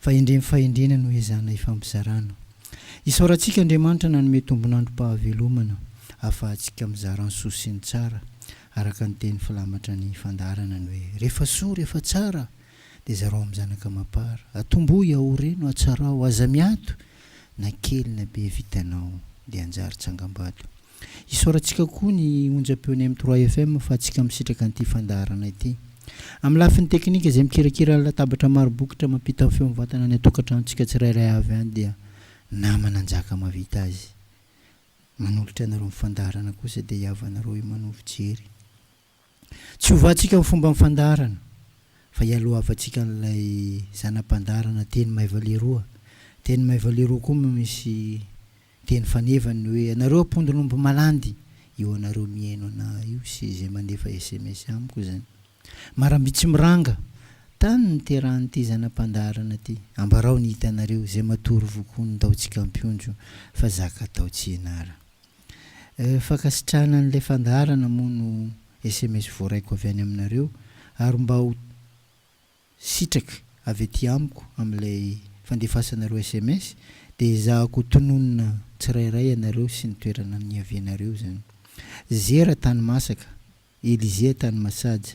fa endreny fahendrena no ezahana ifampizarana. Isaorantsika Andriamanitra nanome tombon'androm-pahavelomana ahafahantsika mizara ny soa sy ny tsara, araka ny teny filamatra ny fandaharana ny hoe, Rehefa soa, rehefa tsara, dia zarao amin'ny zanaka amam-para. Atombohy, aoreno, atsarao, aza miato, na kely na be vitanao, dia hanjary tsangam-bato. Isaorantsika koa ny onjam-peon'ny M trois FM fa antsika misitraka an'ity fandaharana ity. Amin'ny lafiny teknika izay mikirakira ny latabatra maro bokotra mampita ny feo mivantana any an-tokantranontsika tsirairay avy any dia namana Njaka mahavita azy. Manolotra anareo ny fandaharana kosa dia i havanareo Emano Fijery. Tsy hovatsika amin'ny fomban'ny fandaharana fa ialohavantsika an'ilay zana-pandaharana teny maiva leroa. Teny maiva leroa koa moa misy teny faneva ny hoe anareo ampondon'omby malandy io anareo mihaino anà io sy izay mandefa sms amiko izany. Maramby tsy miranga, tany niterahan'ity zana-pandaharana ity. Ambarao ny hitanareo, izay matory vokoa ny taontsika ampiondro fa zaka tao tsy ianara. Fankasitrahana an'ilay fandaharana moa no sms voaraiko avy any aminareo ary mba ho sitraka avy aty amiko amin'ilay fandefasanareo sms dia ezahako ho tononina tsirairay ianareo sy ny toerana niavianareo izany. Zera tany masaka, Elysée tany masaja.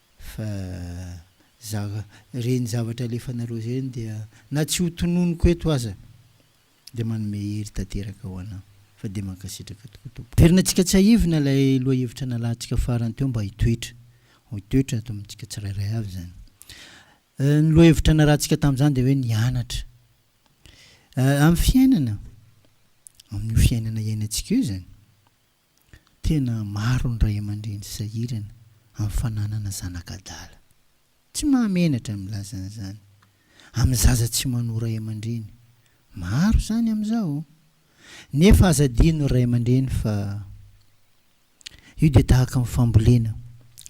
Fa za reny zavatra alefanareo zeny dia na tsy ho tononiko eto aza dia manome hery tanteraka ho anao. Fa dia mankasitraka tokoa Tompoko. Averina tsika tsahivina ilay lohahevitra nalahatsika farany teo mba hitoetra ho hitoetra ato amintsika tsirairay avy izany. Ny lohahevitra narahantsika tamin'izany dia hoe ny anatra amin'ny fiainana, amin'io fiainana iainantsika io izany. Tena maro ny ray aman-dreny sahirana amin'ny fananana zanaka adala. Tsy mahamenatra ny milaza an'izany. Amin'ny zaza tsy manoa ray aman-dreny. Maro izany amin'izao. Nefa aza adino ny ray aman-dreny fa io dia tahaka ny fambolena,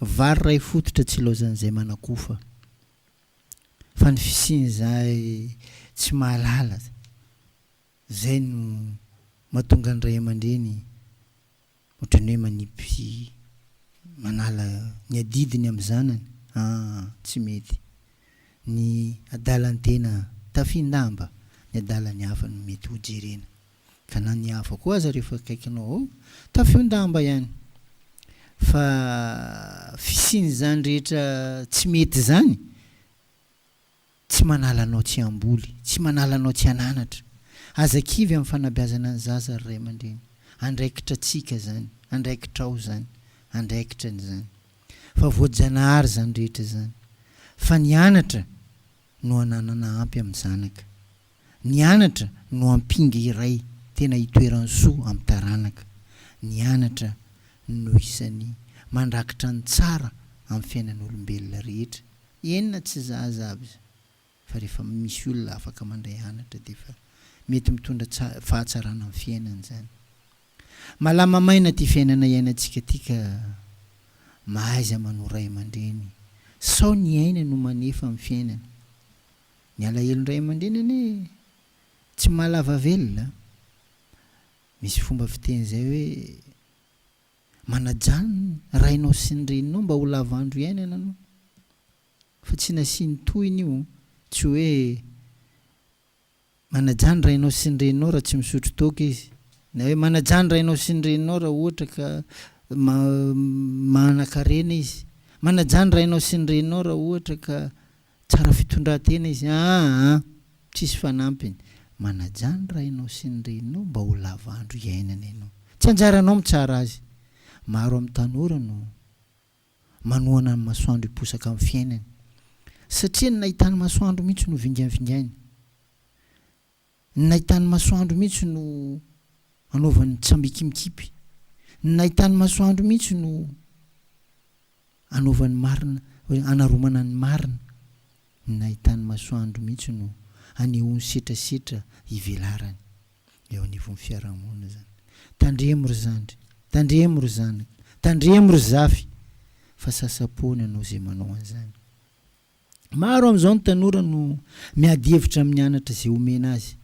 vary iray fototra tsy ilaozan'izay manakofa. Fa ny fisian'izay tsy mahalala. Izay no mahatonga ny ray aman-dreny ohatran'ny hoe manipy sy manala ny adidiny amin'ny zanany aa tsy mety ny adalan-tena tafindamba ny adalan'ny hafa no mety ho jerena ka na ny hafa koa aza rehefa akaikinao ao tafiondamba ihany fa fisian'izany rehetra tsy mety izany Tsy manala anao tsy hamboly, tsy manala anao tsy hananatra. Aza kivy amin'ny fanabeazana ny zaza ry ray aman-dreny. Andraikitratsika izany, andraikitrao izany, andraikitrany izany. Fa voajanahary izany rehetra izany. Fa ny anatra no ananana ampy amin'ny zanaka. Ny anatra no ampinga iray tena itoeran'ny soa amin'ny taranaka. Ny anatra no isan'ny mandrakitra ny tsara amin'ny fiainan'olombelona rehetra, eny na tsy za aza avz fa rehefa misy olona afaka mandray anatra dia efa mety mitondra fahatsarana amin'ny fiainany izany. Malama maina ty fiainana iainantsika ty ka, mahaiza manoa ray aman-dreny sao ny aina no manefa ny fiainana. Ny alahelony ray aman-dreny anie tsy mahalava velona a! Misy fomba fiteny izay hoe, manajà ny rainao sy ny reninao mba ho lava andro iainana aloha. Fa tsy nasiany tohiny io, tsy hoe, Manajà ny rainao sy ny reninao raha tsy misotro toaka izy. Na hoe manajà ny rainao sy ny reninao raha ohatra ka ma manan-karena izy. Manajà ny rainao sy ny reninao raha ohatra ka tsara fitondran-tena izy. Aa tsisy fanampiny. Manajà ny rainao sy ny reninao mba ho lava andro iainana ianao. Tsy anjaranao mitsara azy. Maro amin'ny tanora no. manohana amin'ny masoandro hiposaka amin'ny fiainany, satria ny nahitany masoandro mihitsy no vingainvingainy, ny nahitany masoandro mihitsy no anaovany tsambikimikipy, ny nahitany masoandro mihitsy no anaovany marina, hoe anaromana ny marina. Ny nahitan'ny masoandro mihitsy no hanehoany setrasetra ivelarany eo anivon'ny fiarahamonina izany. Tandremo ry zandry, tandremo ry zanaka, tandremo ry zafy fa sasa-po ny anao izay manao an'izany. Maro amin'izao ny tanora no miady hevitra amin'ny anatra izay omena azy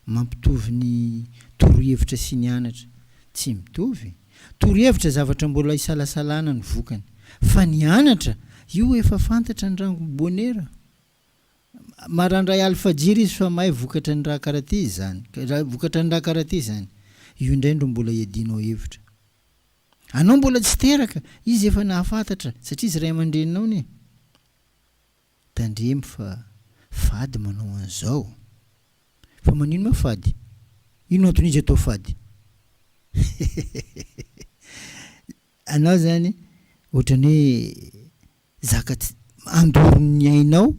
Mampitovy ny torohevitra sy ny anatra. Tsy mitovy. Torohevitra zavatra mbola isalasalana ny vokany. Fa ny anatra, io efa fantatra ny rangon'i Bonera. Marandray alifajira izy fa may vokatra ny raha karaha ty izany. Vokatra ny raha karaha ty izany. Io indray ndro mbola iadianao hevitra. Anao mbola tsy teraka, izy efa nahafantatra, satria izy ray aman-dreninao anie. Tandremo fa fady manao an'izao. Fa manino ma fady? Ino antony izy atao fady? Anao zany otrany hoe zaka tsy andoro ny ainao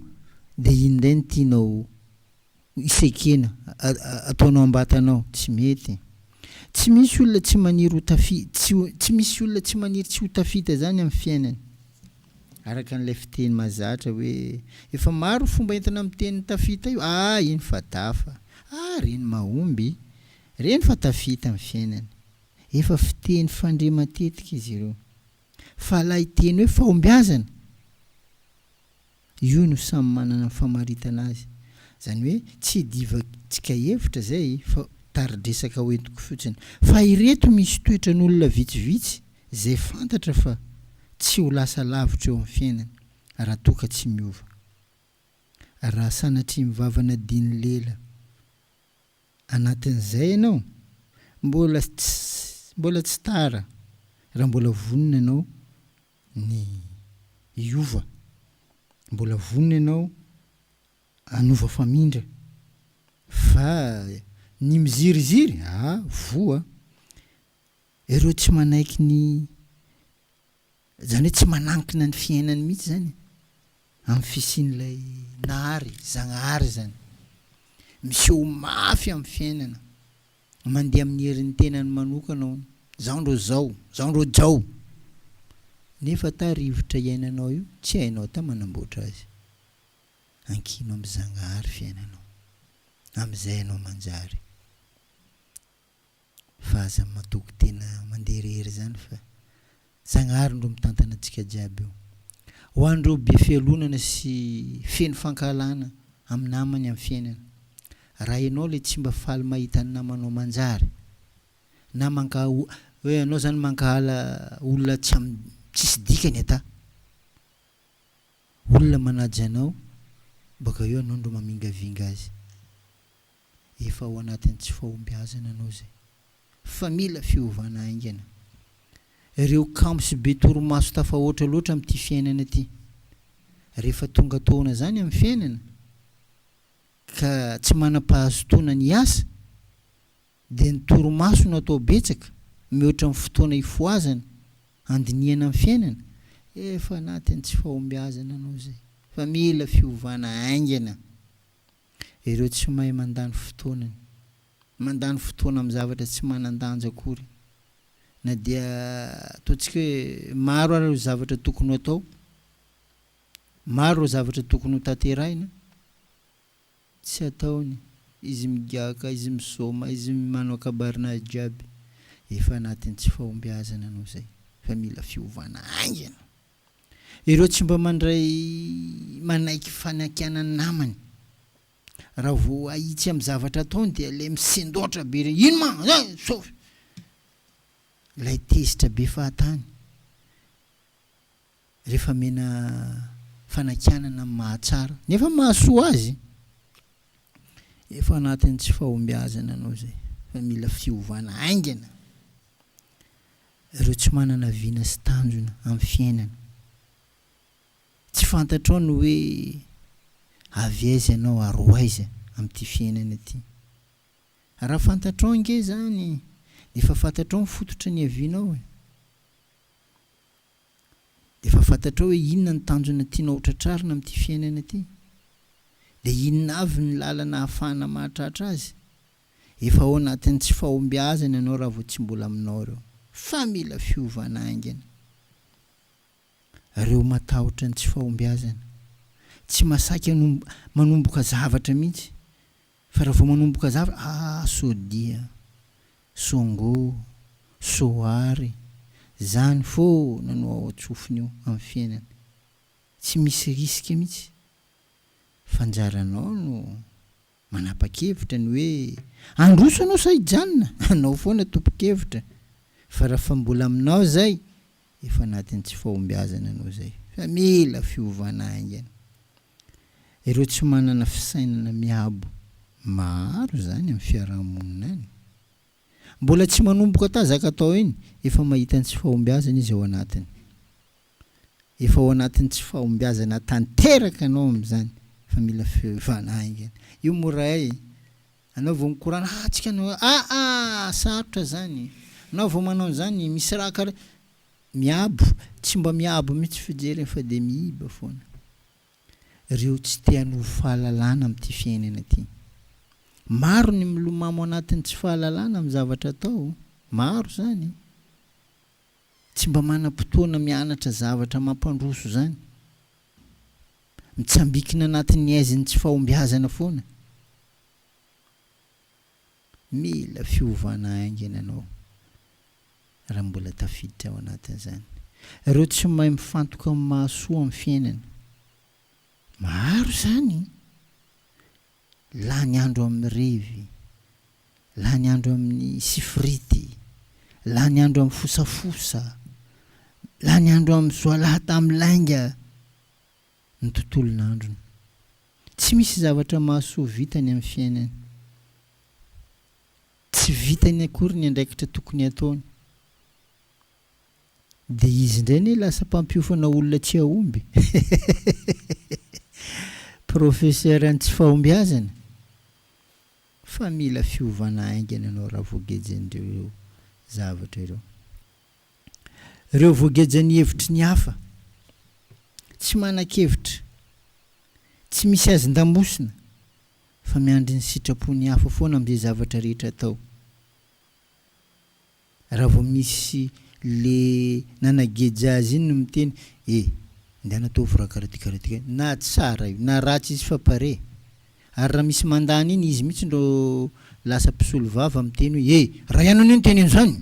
de iny ndray no tianao Isa ekena, ataonao am-batanao, tsy mety e. Tsy misy olona tsy maniry ho tafi, tsy, tsy misy olona tsy maniry tsy ho tafita zany amin'ny fiainany. Araka an'ilay fiteny mahazatra hoe, efa maro ny fomba entina miteny ny tafita io, ah iny fa dafa, ah reny mahomby, reny fa tafita amin'ny fiainany. Efa fiteny fandre matetika izy ireo. Fa ilay teny hoe fahombiazana! Io no samy manana ny famaritana azy. Izany hoe tsy divan-tsika hevitra izay fa tari-dresaka hoentiko fotsiny. Fa ireto misy toetran'olona vitsivitsy izay fantatra fa tsy ho lasa lavitra eo amin'ny fiainany raha toa ka tsy miova. Raha sanatria mivavana diny lela anatin'izay ianao, mbola tsy mbola tsy tara raha mbola vonona ianao ny hiova. Mbola vonona ianao hanova famindra. Fa ny miziriziry, ah, voa. Ireo tsy manaiky ny, izany hoe tsy manankina ny fiainany mihitsy izany e. Amin'ny fisian'ilay Nahary, Zagnahary izany, miseho mafy amin'ny fiainana, mandeha amin'ny herin'ny tenany manokana hono, zao ndro zao, zao ndro jao! Nefa ta rivotra iainanao io, tsy hainao ta manamboatra azy. Ankino amin'ny Zagnahary fiainanao, amin'izay ianao manjary. Fa aza matoky tena mandeha irery izany fa Zagnahary ndro mitantana antsika jiaby io. Ho an'ireo be fialonana sy feno fankahalana amin'ny namany amin'ny fiainana. Raha ianao ilay tsy mba faly mahita ny namanao manjary na mankahala hoe ianao izany mankahala olona tsy amin'ny tsisy dikany ata olona manaja anao baka eo ianao ndro mamingavinga azy. efa ao anatin'ny tsy fahombiazana anao izay fa mila fiovana haingana. Ireo kamo sy be torimaso tafahoatra loatra amin'ity fiainana ity. Rehefa tonga taona izany amin'ny fiainana ka tsy manam-pahazotoana ny hiasa dia ny torimaso no atao betsaka mihoatra ny fotoana hifohazana, handinihana ny fiainana, efa anatin'ny tsy fahombiazana anao izay fa mila fiovana haingana. Ireo tsy mahay mandany fotoanany. Mandany fotoana amin'ny zavatra tsy manan-danja akory. Na dia ataontsika hoe maro ary ireo zavatra tokony ho atao, maro ireo zavatra tokony ho tanterahina, tsy ataony. Izy migiaka, izy misaoma, izy manao kabarina azy jiaby. Efa anatin'ny tsy fahombiazana ianao izay, fa mila fiovana haingana. Ireo tsy mba mandray manaiky fanakana namany. Raha vao ahitsy amin'ny zavatra ataony dia ilay misendoatra be ireny, ino ma zany sao. Ilay tezitra be fahatany rehefa amena fanakianana amin'ny mahatsara nefa mahasoa azy. Efa anatin'ny tsy fahombiazana ianao izay fa mila fiovana haingana. Ireo tsy manana vina sy tanjona amin'ny fiainana. Tsy fantatrao ny hoe avy aiza ianao ary ho aiza amin'ity fiainana ity. Raha fantatrao ange izany dia efa fantatrao ny fototra niavianao e! Dia efa fantatrao hoe inona ny tanjona tianao ho tratrarina amin'ity fiainana ity. Dia inona avy ny lalana ahafahana mahatratra azy? Efa ao anatin'ny tsy fahombiazana ianao raha vao tsy mbola aminao ireo. Fa mila fiovana haingana. Ireo matahotra ny tsy fahombiazana, tsy masaky hanomb, manomboka zavatra mihitsy. Fa raha vao manomboka zavatra, ah, soa dia, soa ngo, soa ary, zany foana no ao an-tsofiny eo, amin'ny fiainany. Tsy misy risque mihitsy. Fa anjaranao no. Manapa-kevitra ny hoe handroso anao sa hijanona? Anao foana tompon-kevitra fa raha fa mbola aminao izay efa anatin'ny tsy fahombiazana anao izay fa mila fiovana haingana. Ireo tsy manana fisainana miabo maro izany amin'ny fiaraha-monina any. Mbola tsy manomboka tazaka atao iny efa mahita ny tsy fahombiazana izy ao anatiny. Efa ao anatin'ny tsy fahombiazana tanteraka anao amin'izany fa mila fiovana haingana. Io mora e! Anao vao mikorana ah tsika no aa sarotra zany e! Anao vao manao an'izany misy raha kara miabo tsy mba miabo mihitsy fijeriny fa dia miiba foana. Reo tsy te hanovo fahalalana amin'ity fiainana ity. Maro ny milomamo anatin'ny tsy fahalalana amin'ny zavatra atao. Maro zany. Tsy mba manam-potoana mianatra zavatra mampandroso izany? Mitsambikina anatin'ny aizin'ny tsy fahombiazana foana? Mila fiovana haingana ianao raha mbola tafiditra ao anatin'izany. Ireo tsy mahay mifantoka amin'ny mahasoa amin'ny fiainana. Maro izany! Lany andro amin'ny revy, lany andro amin'ny sifirity, lany andro amin'ny fosafosa, lany andro amin'ny zoalahy tamin'ny lainga ny tontolon'androny. Tsy misy zavatra mahasoa vitany amin'ny fiainany. Tsy vitany akory ny andraikitra tokony hataony. Dia izy indray anie lasa mpampiofana olona tsy hahomby. Professeur ny tsy fahombiazana. Fa mila fiovana haingana ianao Ravoageja an'ireo zavatra ireo. Ireo voageja ny hevitry ny hafa. Tsy manan-kevitra. Tsy misy hazon-damosina. Fa miandry ny sitrapon'ny hafa foana amin'izay zavatra rehetra atao. Raha vao misy le nanageja azy iny no miteny e ndana ataovy raha karaty karaty karaty na tsara io na ratsy izy fa pare ary raha misy mandany iny izy mihitsy ndro lasa mpisolo vava miteny hoe e raha ianao no niteny anzany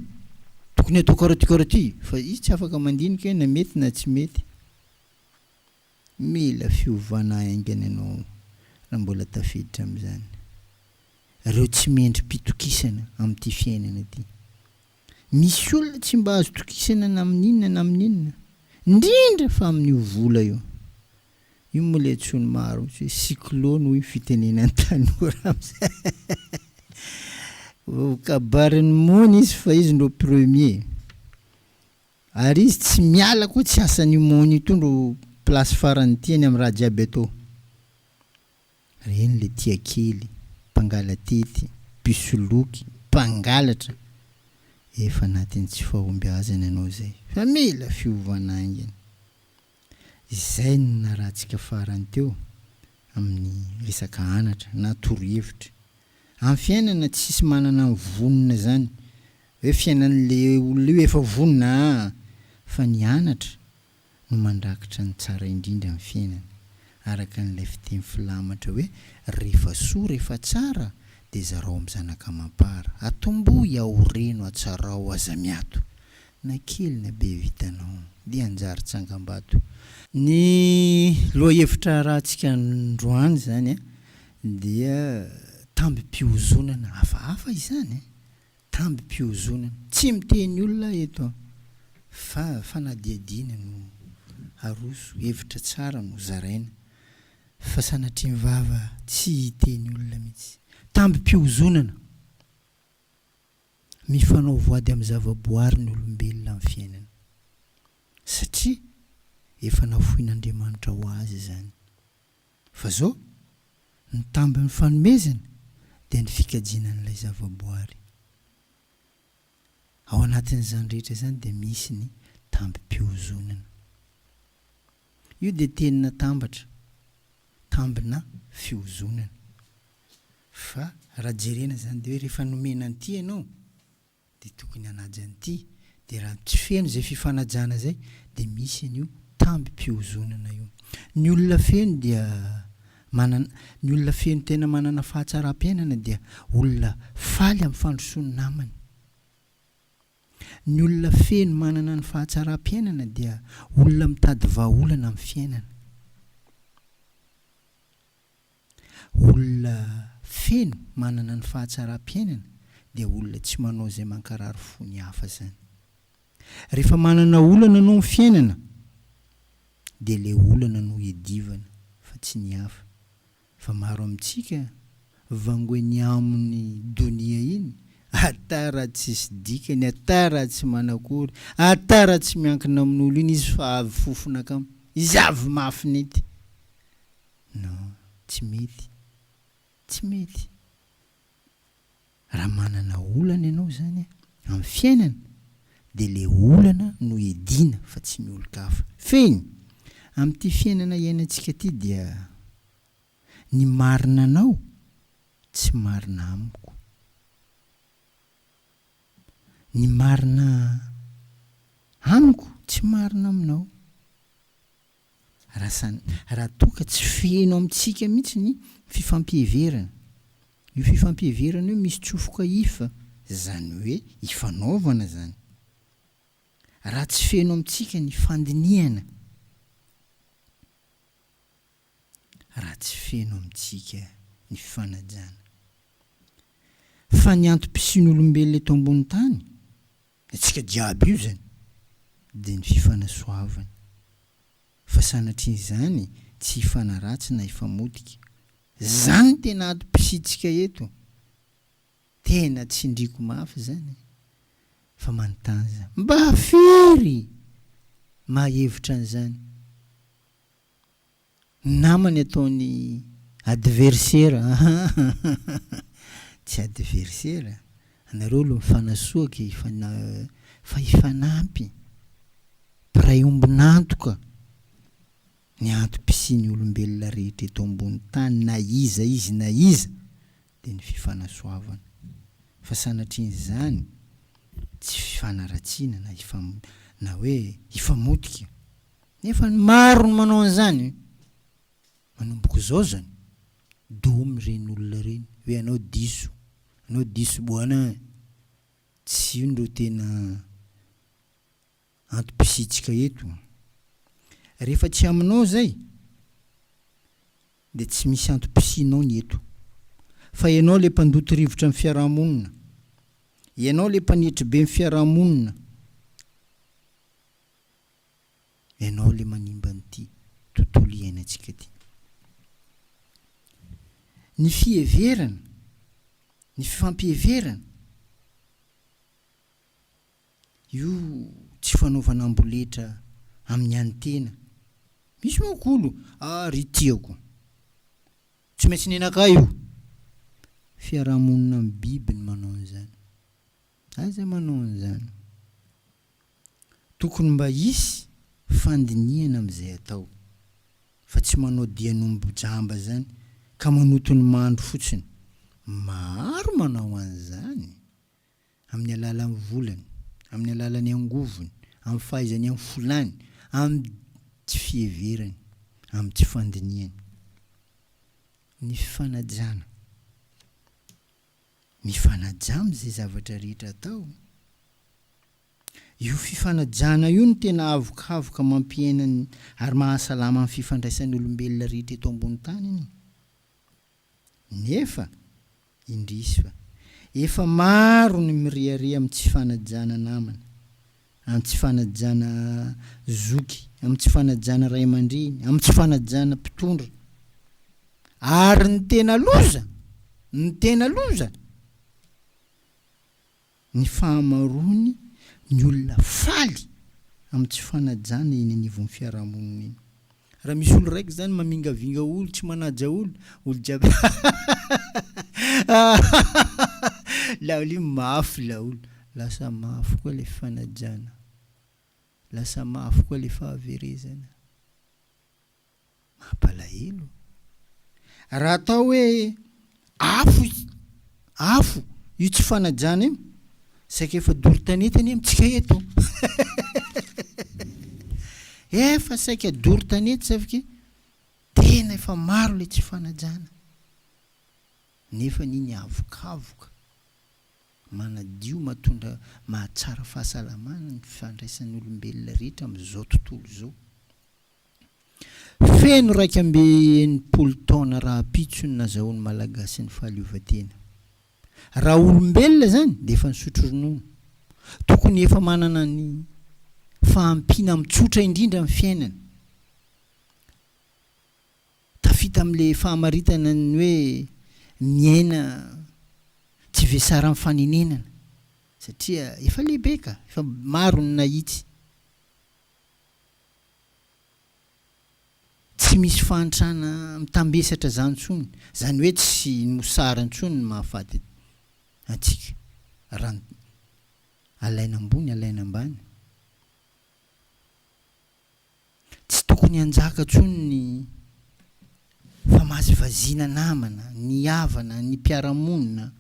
tokony atao karaty karaty fa izy tsy afaka mandinika hoe na mety na tsy mety. Mila fiovana haingana ianao raha mbola tafiditra amin'izany. Ireo tsy mendri-pitokisana amin'ity fiainana ity. Misy olona tsy mba azo tokisana na amin'inona na amin'inona, indrindra fa amin'io vola io. Io moa ilay antsoin'ny maro mihitsy hoe cyclone hoy ny fitenenan'ny tanora amin'izay. Voakabarin'ny mony izy fa izy no premier. Ary izy tsy miala koa tsy asan io mon io tondro place farany tiany am raha jiaby atao reny le tia kely mpangalatety mpisoloky mpangalatra efa anatin tsy fahombiazana ianao zay fa mila fiovana aingana Izay no narahantsika farany teo amin'ny resaka anatra na torohevitra. Amin'ny fiainana tsisy manana ny vonona izany hoe fiainan'ilay olona io efa vonona aa! fa ny anatra no mandrakitra ny tsara indrindra amin'ny fiainana, araka an'ilay fiteny filamatra hoe rehefa soa rehefa tsara dia zarao amin'ny zanaka amam-para, atombohy ao reno atsarao aza miato, na kely na be vitanao dia hanjary tsangambato. Ny lohahevitra arahantsika androany izany dia tambim-pihozonana hafahafa izany, tambim-pihozonana, tsy miteny olona aho eto fa fanadihadiana no aroso, hevitra tsara no zaraina fa sanatria ny vava tsy hiteny olona mihitsy. Tambim-pihozonana! Mifanao voady amin'ny zavaboary ny olombelona amin'ny fiainany, satria efa nafoin'Andriamanitra ho azy izany. Fa izao, ny tambin'ny fanomezana dia ny fikajiana an'ilay zavaboary. Ao anatin'izany rehetra izany dia misy ny tambim-pihozonana. Io dia teny natambatra tambina fihozonana. Fa raha jerena izany dia hoe rehefa nomena an'ity ianao dia tokony hanaja an'ity. Dia raha tsy feno izay fifanajana izay dia misy an'io tambim-pihozonana io. Ny olona feno dia manana, ny olona feno tena manana fahatsaram-piainana dia olona faly amin'ny fandrosoan'ny namany. Ny olona feno manana ny fahatsaram-piainana dia olona mitady vahaolana amin'ny fiainana. Olona feno manana ny fahatsaram-piainana dia olona tsy manao izay mankarary fo ny hafa izany. Rehefa manana olana anao amin'ny fiainana dia ilay olana no iadivana fa tsy ny hafa. Fa maro amintsika vango eny aminy donia iny ata raha tsisy dikany ata raha tsy manakory ata raha tsy miankina amin'olo iny izy fa avy fofona kamo izy avy mafy nety non tsy mety tsy mety Raha manana olana ianao izany amin'ny fiainana dia ilay olana no edina fa tsy ny olon-kafa. Fehiny, amin'ity fiainana iainantsika ity dia ny marina anao tsy marina amiko, ny marina amiko tsy marina aminao. Rasan, raha toa ka tsy feno amintsika mihitsy ny fifampiheverana. Io fifampiheverana io misy tsofoka if, izany hoe ifanaovana izany. Raha tsy feno amintsika ny fandinihana. Raha tsy feno amintsika ny fifanajana. Fa ny antom-pisian'olombelona eto ambonin'ny tany, Ny antsika jiaby io zany dia ny fifanasoavana fa sanatria zany tsy hifanaratsy na hifamotika. Zany tena ato psitsika eto. Tena tsindriko mafy zany fa manontany za. Mba firy maha hevitra an'zany? namany ataony adversera ahahaha tsy adversera anareo alo mifanasoaka e fa na fa hifanampy mpiray ombon'antoka ny antom-pisian'ny olombelona rehetra eto ambony tany na iza izy na iza dia ny fifanasoavana fa sanatrian'izany tsy fifanaratsiana na hifam na hoe hifamotika Nefa ny maro no manao an'izany manomboka izao zany doom ireny olona ireny hoe anao diso anao diso bwana an! tsy io no tena antom-pisiantsika eto an! rehefa tsy aminao izay dia tsy misy antom-pisianao ny eto fa ianao ilay mpandoto rivotra ny fiaraha-monina ianao ilay mpanetry be ny fiaraha-monina Ianao ilay manimba an'ity tontolo iainantsika ity. Ny fiheverana, ny fifampiheverana, io tsy fanaovana amboletra amin'ny an'ny tena. Misy manko olo, ah ry tiako, tsy maintsy nenakay io. Fiarahamonina amin'ny biby ny manao an'izany. Aiza manao an'izany? Tokony mba hisy fandinihana amin'izay atao fa tsy manao dian'omby jamba izany ka manoto ny mando fotsiny. Maro manao an'izany amin'ny alalan'ny volany, amin'ny alalan'ny angovony, amin'ny fahaizany amin'ny folany, amin'ny tsy fiheverany, amin'ny tsy fandinihany ny fifanajana. Mifanaja amin'izay zavatra rehetra atao. Io fifanajana io no tena havokavoka mampiaina ary mahasalama ny fifandraisan'olombelona rehetra eto ambony tany. Nefa, indrisy fa, efa maro ny mirehareha amin'ny tsy fanajana namana, amin'ny tsy fanajana zoky, amin'ny tsy fanajana ray aman-dreny, amin'ny tsy fanajana mpitondra. Ary ny tena loza, ny tena loza, ny fahamaroany ny olona faly amin'ny tsy fanajana eny anivon'ny fiarahamonina eny. Raha misy olo raiky zany mamingavinga olo tsy manaja olo, olo jiaby laolo io mafy laolo, lasa mafy koa le fanajana, lasa mafy koa le fahaverezana. Mampalahelo. Raha atao hoe Afo i afo io tsy fanajana io saika efa doro tanety anie amintsika eto efa saika doro tanety safke tena efa maro le tsy fanajana nefa ny ny avokavoka manadio matondra mahatsara fahasalamana ny fandraisan'olombelona rehetra amzao tontolo zao Feno iraika amby enimpolo taona rahampitso ny nazahoan'ny Malagasy ny fahaleovantena. Raha olombelona izany dia efa nisotro ronono. Tokony efa manana ny fahampiana amin'ny tsotra indrindra ny fiainana. Tafita amin'ilay fahamaritana ny hoe miaina tsy vesaran'ny fanenenana satria efa lehibe ka, efa maro ny nahitsy. Tsy misy fahantrana mitambesatra izany intsony, izany hoe tsy ny mosary intsony no mahafaty antsika raha ny alaina ambony alaina ambany. Tsy tokony hanjaka intsony ny famazivaziana namana, ny havana, ny mpiara-monina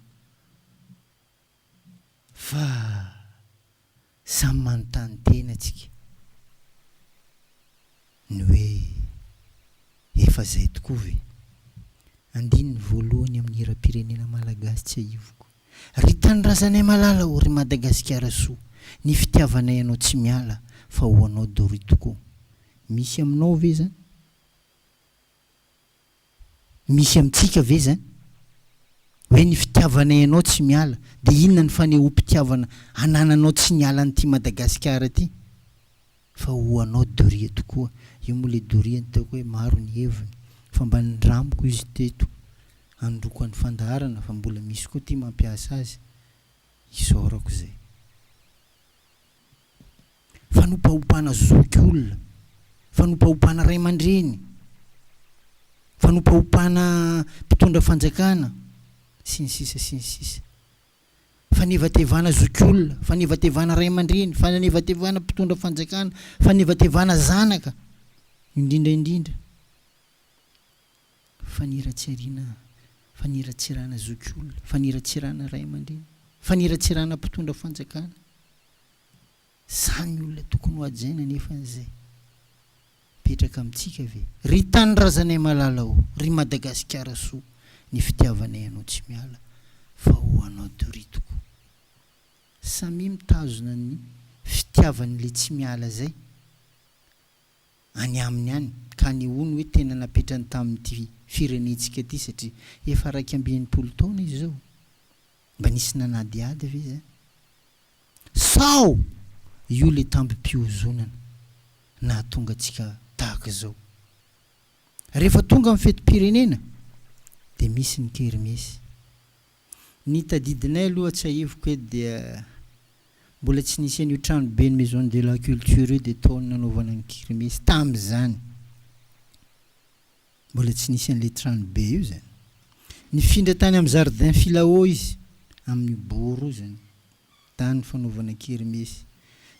fa. Samy manontany tena tsika ny hoe efa zay tokoa ve? Andininy voalohany amin'ny hiram-pirenena malagasy Tsiahiviko ry tanindrazanay malala o ry Madagasikara soa Ny fitiavanay anao tsy miala fa ho anao Dory tokoa Misy aminao ve zany? Misy amintsika ve izany? Hoe ny fitiavanay anao tsy miala, dia inona ny fanehoam-pitiavana anananao tsy niala an'ity Madagasikara ity? Fa ho anao doria tokoa, io moa ilay doria nitaoko hoe maro ny heviny, fa mba nindramiko izy teto handoko an'ny fandaharana fa mbola misy koa ity mampiasa azy, isaorako izay. Fanopaompana zokiolona, fanopaompana ray aman-dreny, fanopaompana mpitondra fanjakana, sy ny sisa sy ny sisa. Fanevatevana zokiolona, fanevatevana ray aman-dreny, fanevatevana mpitondra fanjakana, fanevatevana zanaka, indrindra indrindra. Faniratsirina, faniratsirana zokiolona, faniratsirana ray aman-dreny, faniratsirana mpitondra fanjakana. Sa ny olona tokony hohajaina anefa an'izay? Mipetraka amintsika ve? Ry tanindrazanay malala o! Ry Madagasikara soa! Ny fitiavanay anao tsy miala fa ho anao Doria tokoa. Samia mitazona ny fitiavany le tsy miala zay. any aminy any ka nehoany hoe tena napetrany tamin'ity firenentsika ity satria efa iraika amby enimpolo taona izy izao. Mba nisy nanadihady ve izany? Sao io ilay tambim-pihozonana nahatonga antsika tahaka izao? Rehefa tonga ny fetim-pirenena dia misy ny kermesy. Ny tadidinay aloha tsiahiviko eto dia mbola tsy nisy an'io tranoben'ny Maison de la Culture io dia tao ny nanaovana ny kermesy tamin'izany. Mbola tsy nisy an'ilay tranobe io izany. Nifindra tany amin'ny jardin Filao izy, amin'io boro io izany. Tany ny fanaovana kermesy.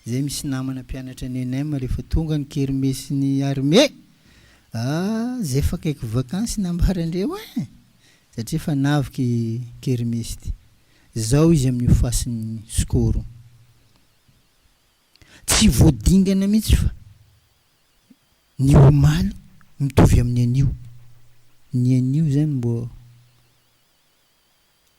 Zay misy namana mpianatra any ENEM rehefa tonga ny kermesy ny armée ah zay efa akaiky vakansy ny ambarandreo eh! satria efa navika i kermesy ty. Zao izy amin'io fasin'ny skoro. Tsy vao dingana mihitsy fa ny omaly mitovy amin'ny anio. Ny anio zany mbô.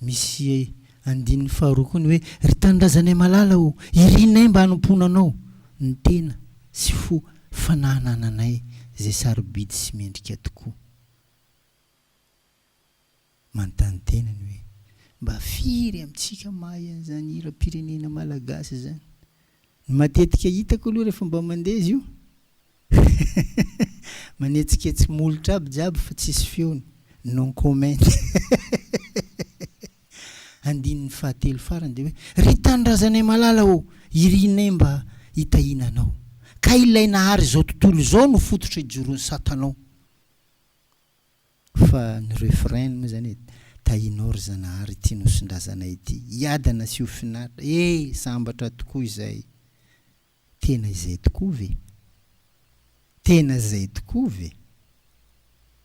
Misy andininy faharoa koa ny hoe, Ry tanindrazanay malala ô, irinay mba hanompoana anao, ny tena sy fo fanahanananay izay sarobidy sy mendrika tokoa. Manontany tena ny hoe, mba firy amintsika mahay an'izany hiram-pirenena malagasy izany? Ny matetika hitako aloha rehefa mba mandeha izy io manetsiketsy molotra aby jiaby fa tsisy feony, non comment Andininy fahatelo farany dia hoe, Ry tanindrazanay malala ô, irinay mba hitahiana anao, ka ilay nahary izao tontolo izao no fototra ijoron'i Satana ao. Fa ny refrain moa izany e, Tahinao ry Zanahary ity nosin-drazanay ity, hiadana sy ho finaritra, he! sambatra tokoa izay. Tena izay tokoa ve? Tena izay tokoa ve?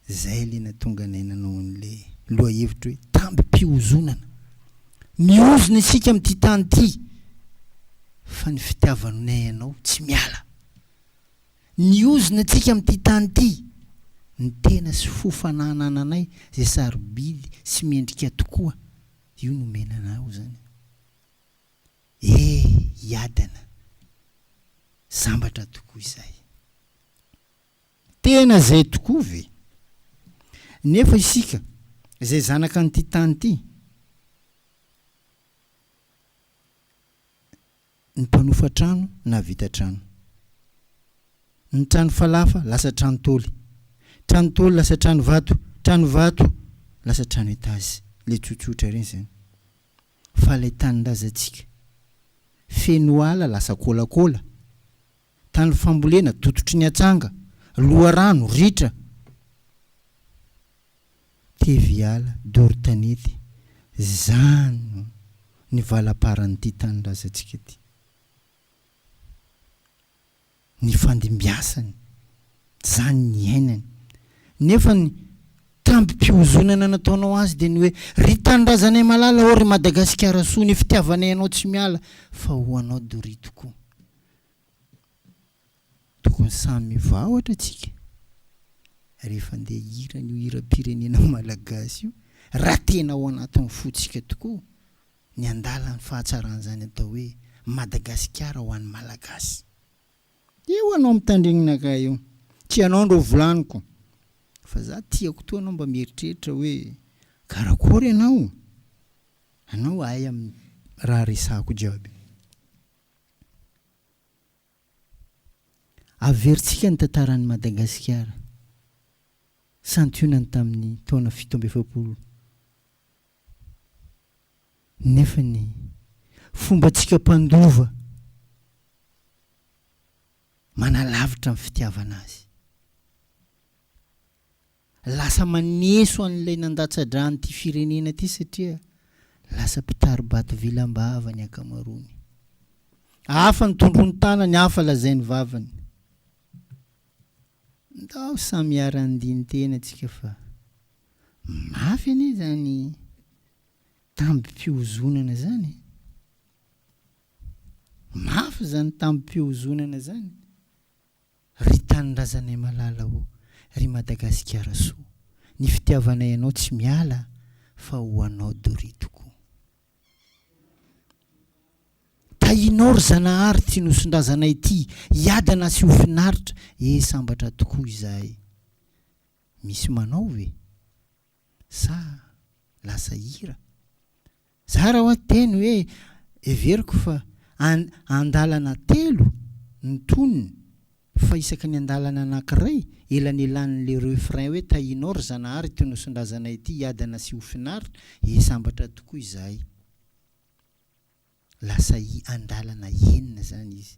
Izay ilay nahatonga anay nanao an'ilay lohahevitra hoe tambim-pihozonana. Mihozona isika amin'ity tany ity, fa ny fitiavanay anao tsy miala. Ny ozona antsika amin'ity tany ity, ny tena sy fo fananananay izay sarobidy sy mendrika tokoa, io nomena anao izany. E! Iadana! Sambatra tokoa izay. Tena izay tokoa ve? Nefa isika izay zanaka an'ity tany ity, ny mpanofa trano nahavita trano. Ny trano falafa lasa trano taoly. Trano taoly lasa trano vato. Trano vato lasa trano etazy. Ilay tsotsotra ireny izany. Fa ilay tanindrazantsika feno ala lasa kôlakôla. tany fambolena dototry ny atsanga, loharano, ritra, teviala, doro tanety, zano ny valamparan'ity tanindrazantsika ity. Nifandimbiasany, zany niainany. Nefa ny tambim-pihozonana nataonao azy dia ny hoe, ry tanindrazanay malala ô ry Madagasikara soa, ny fitiavanay anao tsy miala, fa ho anao doria tokoa. Tokony samy mivaotra tsika rehefa ndeha hihira an'io hiram-pirenena malagasy io raha tena ao anatin'ny fontsika tokoa ny handala ny fahatsaran'izany atao hoe Madagasikara ho an'ny Malagasy. Eo anao mitandregnina kay eo. Tsy anao ndro volaniko. Fa za tiako toa anao mba mieritreritra hoe karakory anao? Anao ahy amin'ny raha resahako jiaby. Averintsika ny tantaran'i Madagasikara, santionany tamin'ny taona fito amby efapolo, nefa ny fombantsika mpandova manalavitra ny fitiavana azy. Lasa maneso an'ilay nandatsa-dra an'ity firenena ity satria lasa mpitari-bato vilam-bava ny ankamaroany. Hafa ny tondrontànany, hafa lazainy vavany. Ndao samy hiara-handini-tena tsika fa mafy anie izany tambim-pihozonana izany e! Mafy izany tambim-pihozonana izany! Ry tanindrazanay malala ô, ry Madagasikara soa, ny fitiavanay anao tsy miala fa ho anao Dorie tokoa. Tahinao ry Zanahary ty nosondrazanay ty hiadana sy ho finaritra e sambatra tokoa izahay. Misy manao ve? Sa lasa hira? Zara hoa teny hoe heveriko fa an andalana telo ny tonony fa isaky ny andalana anakiray elanelan'le refrain hoe tahinao ry zanahary ity nosondrazana ity hiadana sy ho finaritra he sambatra tokoa izahay lasa andalana enina zany izy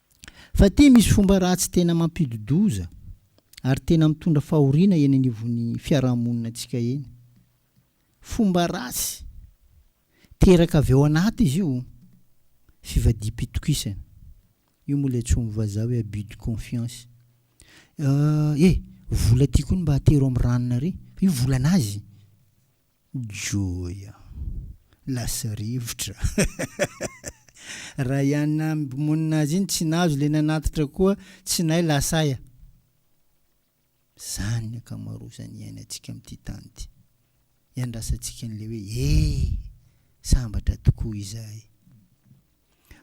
Fa ity misy fomba ratsy tena mampidi-doza ary tena mitondra fahoriana eny anivon'ny fiarahamonina antsika eny. Fomba ratsy teraka avy ao anaty izy io, fivadiam-pitokisana. Io moa ilay antsoin'ny vazaha hoe abus de confiance. Eh, vola ity koa ny mba atero amin'ny ranona re. Fa io volan'azy. Joya, lasa rivotra. Raha i Anna mpimonina azy iny tsy nahazo ilay nanatitra koa tsy nahay lasa aia. Izany ny ankamaroazan'ny iainantsika amin'ity tany ity. Iandrasantsika an'ilay hoe ee, sambatra tokoa izahay.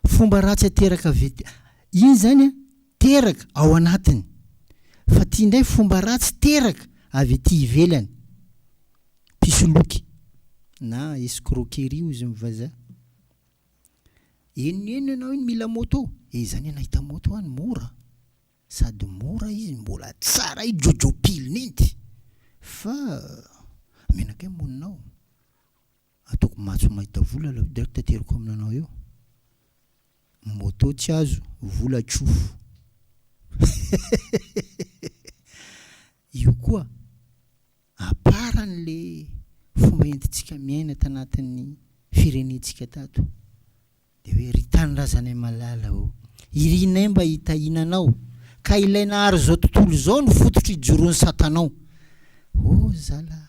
Fomba ratsy ateraka avy ety iny izany an, teraka ao anatiny. Fa ity indray fomba ratsy teraka avy ety ivelany. Mpisoloky na escroquerie hoy izy amin'ny vazaha. Henony henony ianao iny mila moto, eh izany ianao hahita moto any mora, sady mora izy, mbola tsara iny jojo pile-ny iny, fa menakay ny moninao. Ataoko matso mahita vola la dia tateriko amina anao eo moto tsy azo vola tsofo io koa aparany le fomba entintsika miaina tanatin'ny firenentsika tato Dia hoe, Ry Tanindrazanay malala ô, irinay mba hitahiana anao, ka ilay nahary izao tontolo izao no fototry ijoroan'i Satanao. Ô zala a,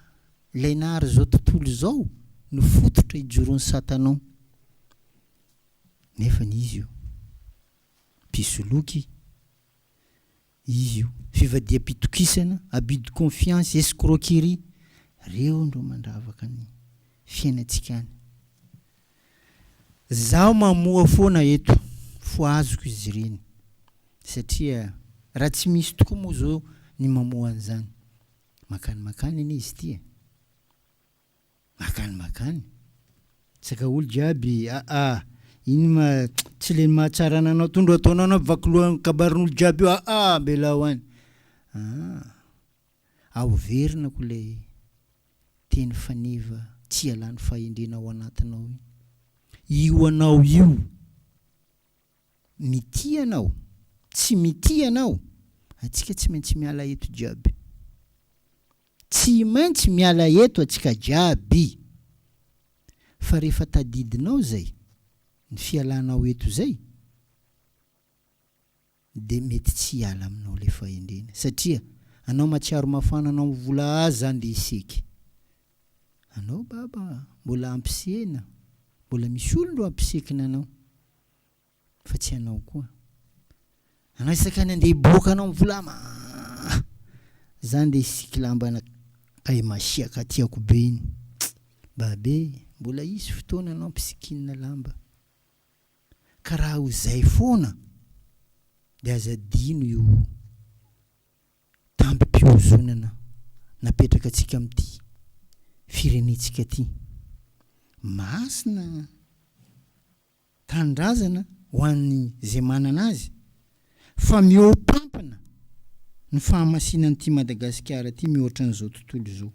ilay nahary izao tontolo izao no fototra ijoroan'i Satanao. Nefany izy io, mpisoloky, Io, fivadiham-pitokisana, abus de confiance, escroquerie, reo ndro mandravaka ny fiainantsika any. Zaho mamoha foana eto fo azoko izy ireny satria raha tsy misy tokoa moa zao ny mamoha an'izany, makany makany anie izy ity e. Makany makany. Tsaka olo jiaby aa. Iny ma tsy le mahatsara ananao tondro ataonao anao vaky loha ny kabarin'olo jiaby io aa ambelao any aa. Ao verina ko le teny faneva tsy ialan'ny fahendrena ao anatinao iny. Io anao io mitia anao tsy mitia anao atsika tsy maintsy miala eto jiaby. Tsy maintsy miala eto antsika jiaby. Fa rehefa tadidinao izay, ny fialanao eto izay, dia mety tsy hiala aminao ilay fahendrena. Satria anao matsiaro mafana anao mivola azy izany dia hiseky. Anao baba mbola ampisehina, mbola misy olon-droa ampisekina anao. Fa tsy ianao koa. Anao isaka ny andeha hiboaka anao mivola ma. Zany le sikilambana kay masiaka tiako be iny. Babe, mbola hisy fotoana anao mpisikinina lamba. Ka raha ho zay foana de aza adino io tambim-pihozonana napetraka antsika amin'ity firenentsika ty. Masina. tanindrazana ho an'ny izay manana azy fa mihoapampina ny fahamasinana ity Madagasikara ity mihoatra an'izao tontolo izao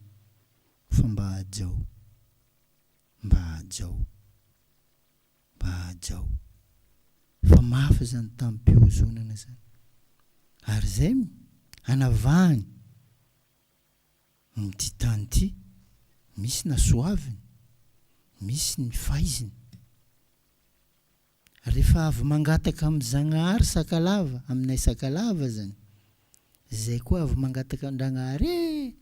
fa mba hajao mba hajao mba hajao fa mafy izany tamim-piozonana izany ary izay no hanavahany Ny ty tany ty, misy na soaviny, misy ny faiziny. Refa avy mangataka am Zagnahary sakalava, aminay sakalava zany, zay koa avy mangataka andragnahary ee,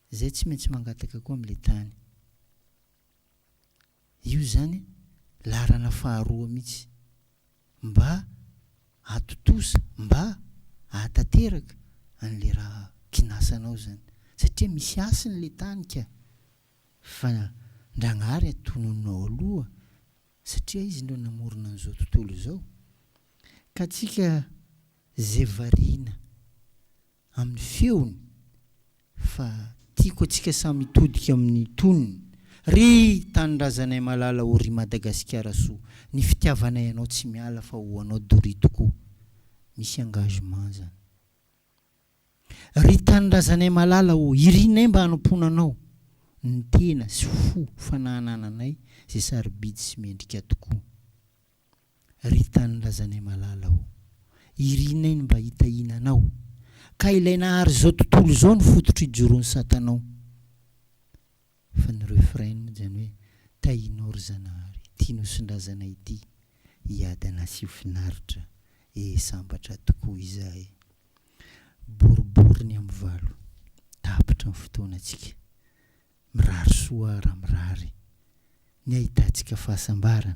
zay tsy maintsy mangataka koa am le tany. Io izany laharana faharoa mihitsy. Mba atontosa, mba ahatanteraka an'ilay raha kinasanao izany. Satria misy hasiny ilay tany ka. Fa Ndragnahary atonononao aloha satria Izy no namorona an'izao tontolo izao. Ka antsika izay variana. amin'ny feony fa tiako atsika samy hitodika amin'ny tonony ry tanindrazanay malala o ry Madagasikara soa ny fitiavanay anao tsy miala fa ho anao doria tokoa misy engagement zany ry tanindrazanay malala o irinay mba hanompoana anao ny tena sy fo fanahanananay zay sarobidy sy mendrika tokoa. Ry tany lazanay malala ô! Irinay ny mba hitahiana anao, ka ilay nahary izao tontolo izao no fototr' ijoron' satanao. Fa ny refrain moa izany hoe tahinao ry Zanahary ity nosin-drazanay ity hiady an' asio finaritra ee sambatra tokoa izahay. Boribory ny am valo, tapitra ny fotoanantsika. Mirary soa raha mirary ny ahitantsika fahasambarana,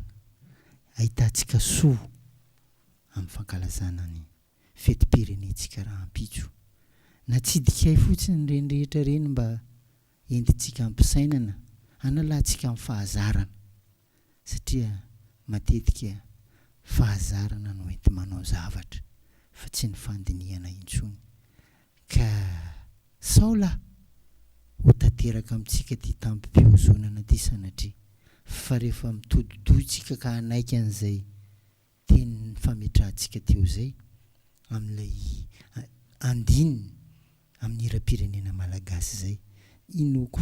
ahitantsika soa amin'ny fankalazana ny fetim-pirenentsika rahampitso. Natsidika ahy fotsiny ireny rehetra ireny mba entintsika ampisainana, hanalantsika amin'ny fahazarana. satria matetika fahazarana no enti-manao zavatra fa tsy ny fandinihana intsony ka sao la ho tanteraka amintsika ity tamim-pihozonana ity sanatria fa rehefa mitodi-dohitsika ka hanaiky an'izay teny fametrahantsika teo izay amin'ilay andininy amin'ny hiram-pirenena malagasy izay inoako